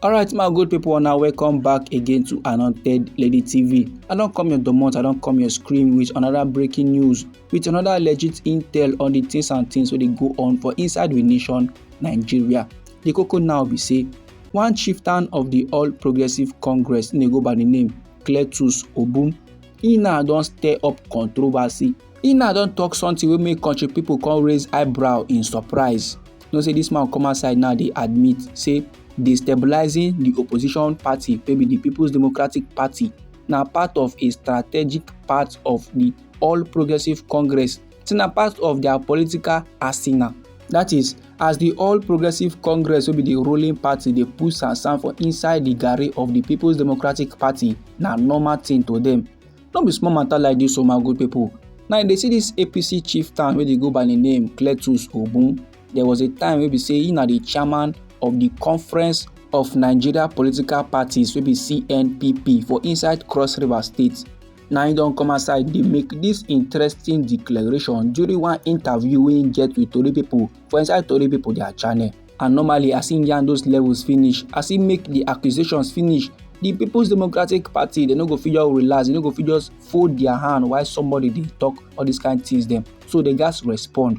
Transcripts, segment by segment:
alright my good people now welcome back again to anointed lady tv i don't come your domot i don't come your screen with another breaking news with another legit intel on the things and things where they go on for inside the nation nigeria the coco now be say one chieftain of the all progressive congress they go by the name cletus obum he now don't stir up controversy He now don talk something wey make country people come raise eyebrow in surprise. You know say this man come outside now dey admit say destabilizing the opposition party wey be the People's Democratic Party na part of a strategic part of the All Progressives Congress say na part of their political arsenal. That is, as the All Progressives Congress wey be the ruling party dey put sansan for inside the garri of the People's Democratic Party na normal thing to them. No be small matter like this, oh my good people. Now you dey see this APC chieftain wey dey go by the name Cletus Obun. There was a time wey be say he na the chairman of the Conference of Nigeria Political Parties wey be CNPP for inside Cross River State. Now he don come outside dey make this interesting declaration during one interview wey he get with Tori people for inside Tori people their channel. and normally as im yarn those levels finish as im make di accusations finish di peoples democratic party dem no go fit just relax dem no go fit just fold dia hand while somebody dey talk all dis kain tins dem so dem gatz respond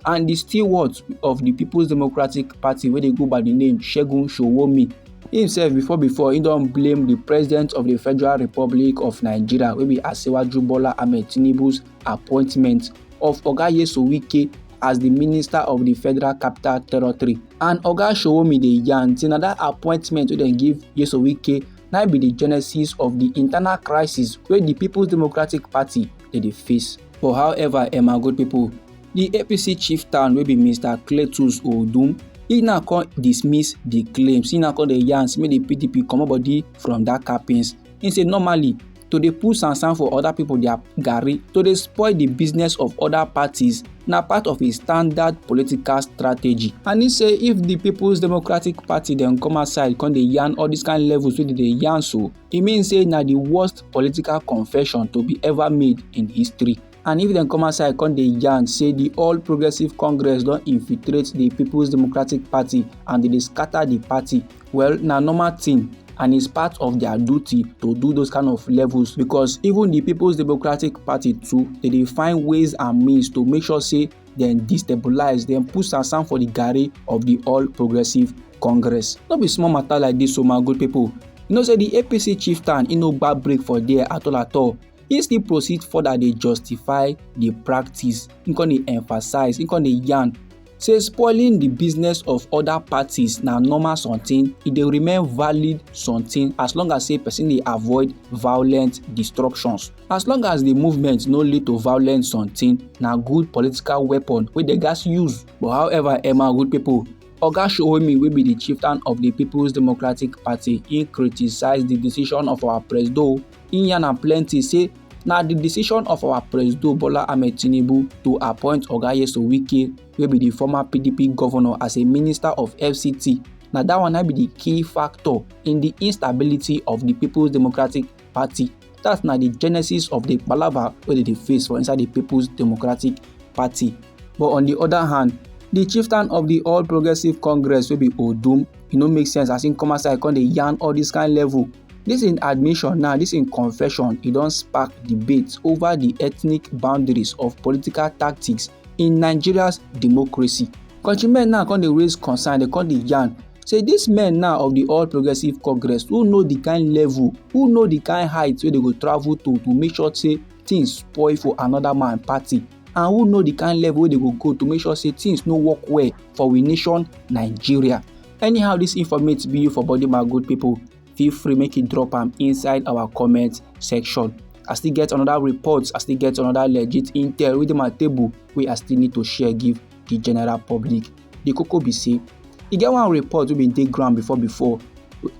and di steward of di peoples democratic party wey dey go by di name segun sowonmi himself before before he don blame the president of the federal republic of nigeria wey be asiwaju bola ahmed tinubu's appointment of oga yeso wike as di minister of di federal capital territory and oga sowomide dey yarn say na dat appointment wey dem give yeso wike na be di genesis of di internal crisis wey di peoples democratic party dey dey face but however emma good pipo di apc chief town wey be mr cletus odum e now come dismiss di claims e now come dey yarn say make di pdp comot body from dat captains e say normally to dey pull sansan for other people their garri to dey spoil the business of other parties na part of a standard political strategy and e say if the people's democratic party dem come outside come dey yarn all these kind levels wey dey dey yarn so e mean say na the worst political confession to be ever made in history. and if dem come outside come dey yarn say di all progressive congress don infiltrate di peoples democratic party and dem dey scatter di party well na normal thing and it's part of their duty to do those kind of levels because even the people's democratic party too they dey find ways and means to make sure say dem destabilize dem put sansan for the garri of the all progressive congress no be small matter like this o oh my good people you know say the apc chieftain e no gba break for there at all at all he still proceed further dey justify the practice he come dey emphasize he come dey yarn say spoiling the business of other parties na normal something e dey remain valid something as long as say person dey avoid violent destructions as long as the movement no lead to violent something na good political weapon wey dem gats use but however emma good people Oga Showemi wey be the chieftain of the People's Democratic Party, he criticise the decision of our presido He yarn am plenty say na the decision of our President Bola Ahmed Tinubu to appoint Oga Yeso Wike wey be the former PDP governor as a minister of FCT na that one na be the key factor in the instability of the People's Democratic Party that na the genesis of the palava wey dey dey face for inside the People's Democratic Party but on the other hand the chieftain of the All Progressives Congress wey be Odum e no make sense as im come outside come dey yarn all this kind level This in admission now, this in confession, e don spark debate over the ethnic boundaries of political tactics in Nigeria's democracy. Countrymen now come dey raise concern, they come dey yarn say these men now of the All Progressives Congress who know the kind level, who know the kind height wey they go travel to to make sure say things spoil for another man party and who know the kind level wey they go go to make sure say things no work well for we nation Nigeria. Anyhow this informate be you for body my good people, feel free make you drop am inside our comment section. I still get another report, I still get another legit intel within my table wey I still need to share give the general public. The koko be say e get one report wey bin dey ground before before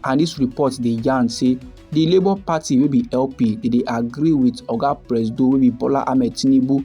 and this report dey yarn say the labour party wey be lp dey dey agree with oga presido wey be bola ahmed tinubu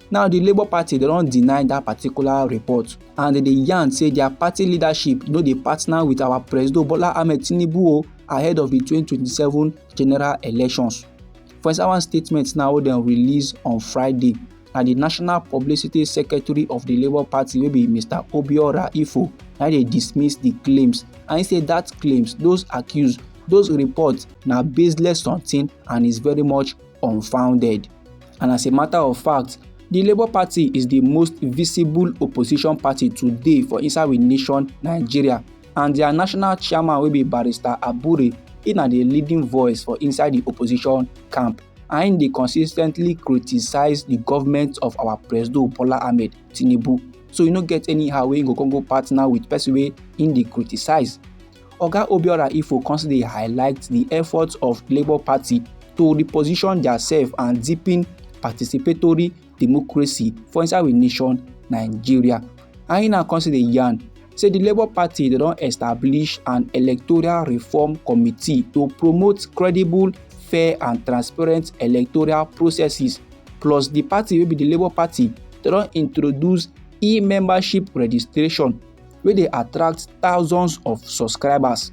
Now the Labour Party they don't deny that particular report and they yarn say their party leadership no dey partner with our President Bola Ahmed Tinubu ahead of the 2027 general elections. For inside one statement now wey dem release on Friday, na the National Publicity Secretary of the Labour Party wey be Mr Obiora Ifo na dey dismiss the claims and he say that claims, those accused, those reports na baseless something and is very much unfounded. And as a matter of fact, the Labour Party is the most visible opposition party today for inside we nation Nigeria and their national chairman will be Barrister Abure He na the leading voice for inside the opposition camp and they consistently criticize the government of our president Bola Ahmed Tinubu so you no get anyhow wey go come go partner with person wey im dey criticize Oga Obiora Ifo constantly highlights the efforts of Labour Party to reposition theirself and deepen participatory democracy for inside we nation Nigeria. And he now constantly yarn say the Labour Party they don establish an electoral reform committee to promote credible, fair and transparent electoral processes plus the party wey be the Labour Party they don introduce e-membership registration wey dey attract thousands of subscribers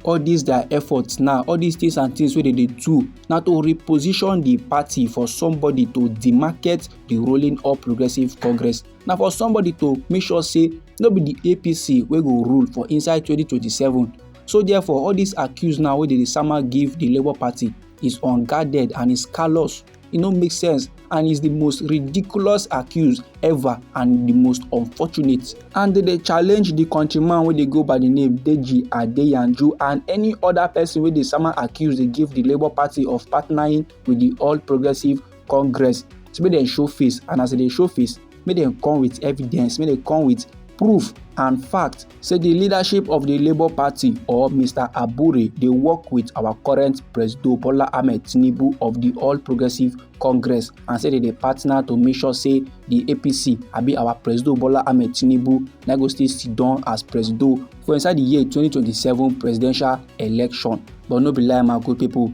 all these their efforts now all these things and things wey they dey do na to reposition the party for somebody to demarket the rolling all progressives congress na for somebody to make sure say no be the apc wey go rule for inside 2027 so therefore all these accuse now wey dey dey sama give the labour party is unguarded and is callous e no make sense and is the most ridiculous accuse ever and the most unfortunate and they dey challenge the countryman wey dey go by the name deji adeyanju and any other person wey dey sama accuse dey give the labour party of partnering with the all progressives congress to make dem show face and as dem dey show face make dem come with evidence make dem come with proof and fact say di leadership of di labour party or mr abure dey work with our current president bola ahmed tinubu of di all progressives congress and say dem dey partner to make sure say di apc abi our president bola ahmed tinubu na go still sit down as president for inside di year 2027 presidential election but no be lie my good pipo